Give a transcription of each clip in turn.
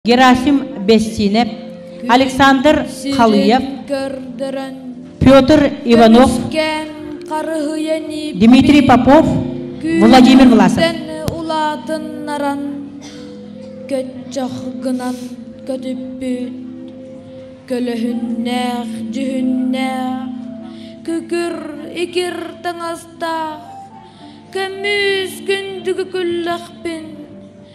Герасим Бессинев, Александр Халыев, Петр Иванов, Дмитрий Попов, Владимир Власов. улаатыннаран көччөх гынан көтүппүт көлөһүннээх дьүһүннээх күкүр икир таҥастаах көмүс күндүгү күллэхпин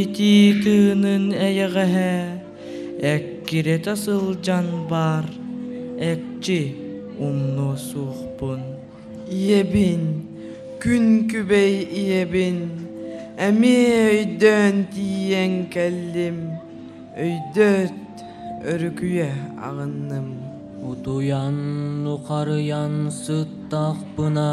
итии тыынын эйэҕэһэ эккирэтэ сылдьан баар экчи умнуо суохпун ийэбин күн күбэй ийэбин эмиэ өйдөөн тиийэн кэллим өйдөөт өрүкүйэ аҕынным утуйан нухарыйан сыттахпына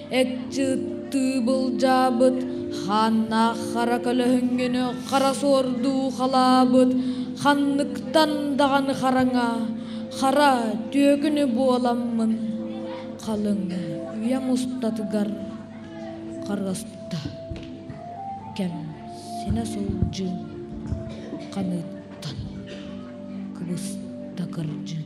Этчиттии былдьаабыт, хааннаах хара көлөһүҥҥүнү хара суордуу халаабыт, ханныктан даҕаны хараҥа, хара түөкүнү буоламмын, халыҥ үйэм устатыгар харыста кэм синэ сылдьыым ханыыттан кыбыста кырдьыым